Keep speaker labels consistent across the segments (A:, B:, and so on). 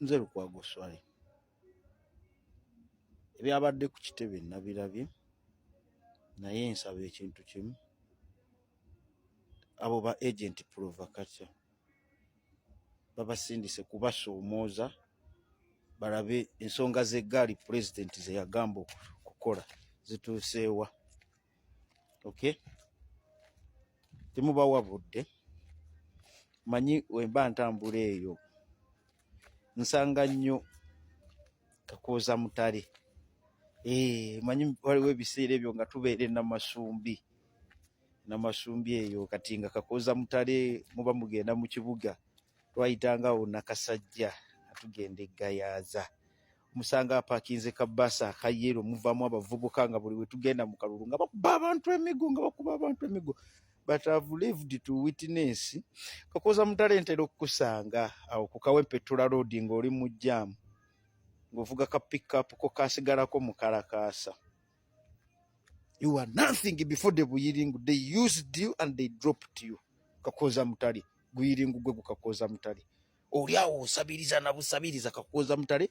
A: nze lukwago swale ebyabadde ku kitebe nabirabye naye nsaba ekintu kimu abo ba agent provocature babasindise kubasoomooza balabe ensonga z'eggaali pulezidenti ze yagamba okukola zituuseewa okay temubawa budde manyi wemba ntambula eyo nsanga nnyo kakooza mutale eh, manyi waliwo ebiseera ebyo nga tubeere namasumbi namasumbi eyo kati nga kakooza mutale muba mugenda mu kibuga twayitanga wo nakasajja atugenda eggayaaza musanga apakinze ka basa akayero muvamu abavubuka nga buli wetugenda mu kalulu nga bakuba abantu emigo nga bakuba abantu emigo but have lived to witness kakoza mutale ntera okukusanga awo ku kawempetula road ng'oli mu jaamu ng'ovuga ka pickup ko kasigalako mu kalakaasa you are nothing before the buyiringu they used you and they dropped you kakoza mutale guyiringu gwe gukakoza mutale oli awo osabiriza na busabiriza kakuwoza mutale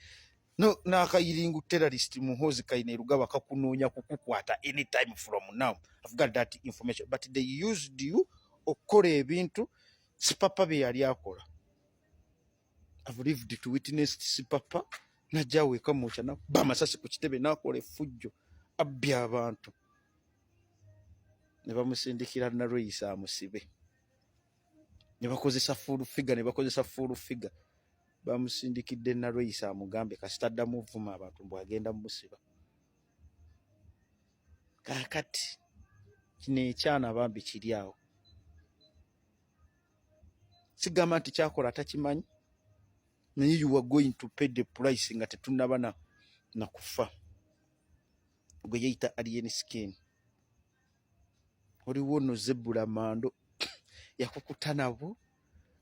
A: no nakayiringu terrorist muhozi kaine rugaba kakunonya kukukwata anytime from now i've got that information but they used you okora ebintu sipapa be yali akola i've lived to witness sipapa na jawe kamocha na ba masasi ku kitebe na kole fujjo abbi abantu ne bamusindikira na roisa musibe ne bakozesa full figure ne bakozesa full figure bamusindikidde nalweyisa amugambe kasita addamu vuma abantu mbu agenda mumusiba kakati kino ekyana bambi kiri awo sigamba nti kyakola atakimanyi naye you are going to pay the price nga tetunaba na nakufa gwe yeyita alien skin oliwo no zebula mando yakukuta nabo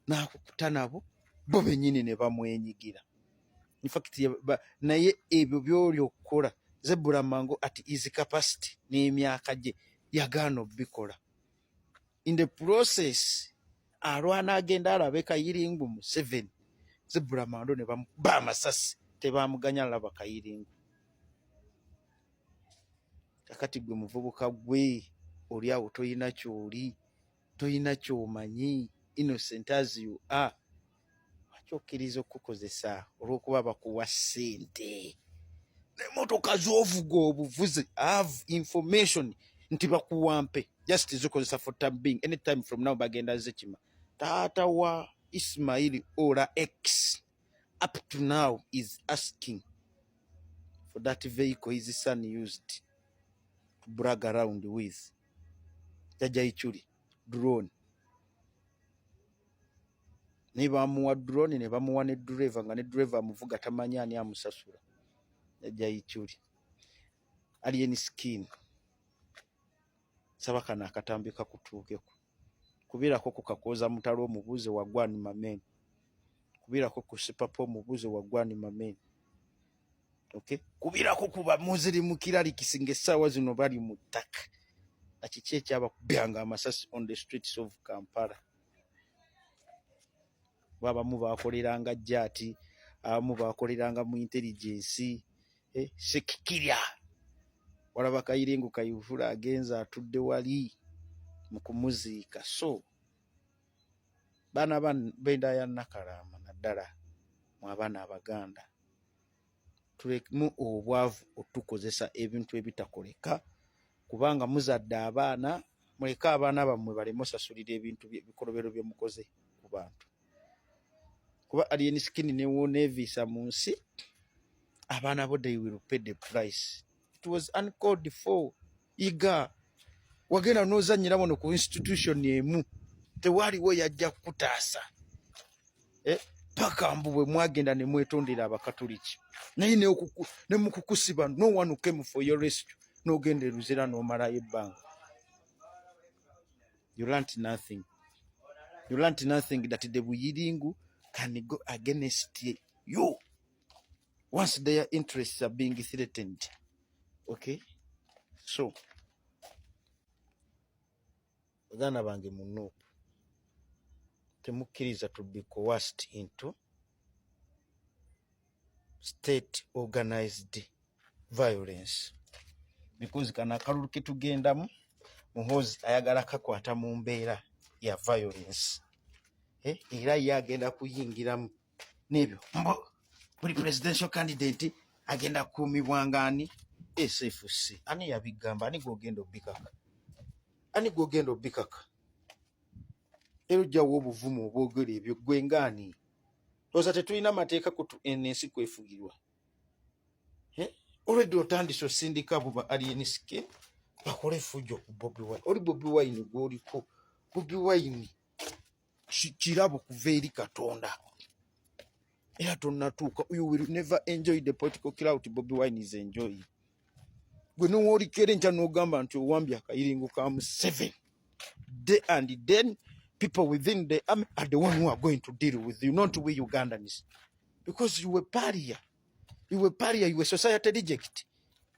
A: nakukuta nabo bo benyini ne bamwenyigira in fact naye ebyo byoli okukola zebula mango at easy capacity n'emyaka gye yagaana obikola in the process alwana agenda alabe kayiringu museveni zibula mando ne bamuba amasasi tebamuganya alaba kayiringu kakati gwe muvubuka gwe oli awo toyina kyoli toyina kyomanyi innocent as you are lwaki okkiriza okukukozesa olw'okuba bakuwa ssente emotoka zovuga obuvuzi have information nti bakuwampe just zikozesa for time being anytime from now bagenda zikima taata wa ismail ola x up to now is asking for that vehicle his son used to brag around with jajaichuli drone naye bamuwa drone ne bamuwa ne driver nga ne driver amuvuga tamanya ani amusasula eja ichuli ali eni skin saba kana akatambi kakutuke ku kubira ko kukakoza mutalo omubuze wa gwani mamen kubira ko kusipa po omubuze wa gwani mamen okay kubira ko kuba muziri mukirali kisinge sawa zino bali mutaka akikye kyaba kubanga amasasi on the streets of Kampala abamu bakoleranga jati abamu bakoleranga mu intelligence eh, sekikirya walaba kayirengo kayivula agenze atudde wali mu kumuziika so baana benda ya nakalaama naddala mu abaana abaganda tulekemu obwavu otukozesa ebintu ebitakoleka kubanga muzadde abaana muleke abaana bammwe baleme osasulira ebintu bikolobero bye mukoze ku bantu kuba alien skin newoneviisa mu nsi abaana bo they will pay the price it was uncalled for iga wagenda nozanyira wano ku institution emu tewaliwo yajja kukutaasa eh? paka mbu bwe mwagenda ne mwetondera abakatoliki naye ne mu kukusiba no one came for your rescue n'ogenda eruzira n'omalayo ebbanga you learnt nothing you learnt nothing that the buyiringu can go against you once their interests are being threatened okay so baganda bange mu nup temukkiriza to be coerced into state organized violence because kana akalulu ketugendamu muhozi ayagala kakwata mu mbeera ya violence eh, era ye agenda kuyingiramu n'ebyo mbu buli presidential candidate agenda kukuumibwa ngaani sfc ani yabigamba ani gwogenda obikaka ani gwogenda obikaka era ojjawo obuvumu obwogera ebyo gwe ngaani oza tetulina mateeka kutu ensi kwefugirwa olwedde otandise osindika abo ba aliensk bakole efujjo ku bobi wine oli bobi wine gwoliko bobi wine kirabo kuva eri katonda era tonnatuuka you will never enjoy the political clout bobi wine is enjoying gwe nowolikera enkya nogamba nti owambye akayiringo ka museven day and then people within the army are the one who are going to deal with you not we ugandans because you were paria you were paria you were society reject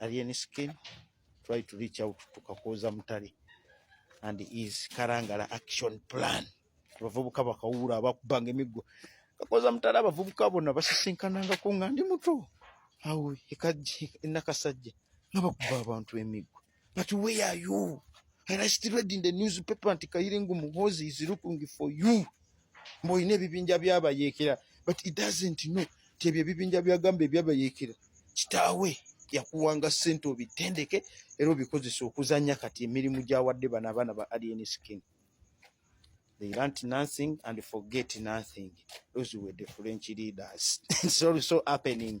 A: Alien Skin try to reach out to Kakooza Mutale and his Karangala action plan. Abavubuka bakawuula abakubanga emiggo. Kakooza Mutale abavubuka bona basisinkanangako nga ndi muto awo ekajje enakasajja nga bakuba abantu emiggo. But where are you? And I still read in the newspaper nti Kayiringu Muhozi is looking for you. Mboyine ebibinja byabayeekera but it doesn't know nti ebyo ebibinja byagamba ebyabayeekera kitaawe yakuwanga ssente obitendeke era obikozesa okuzanya kati emirimu gyawadde bano abaana ba alien skin they learnt nothing and forget nothing those were the french leaders it's also happening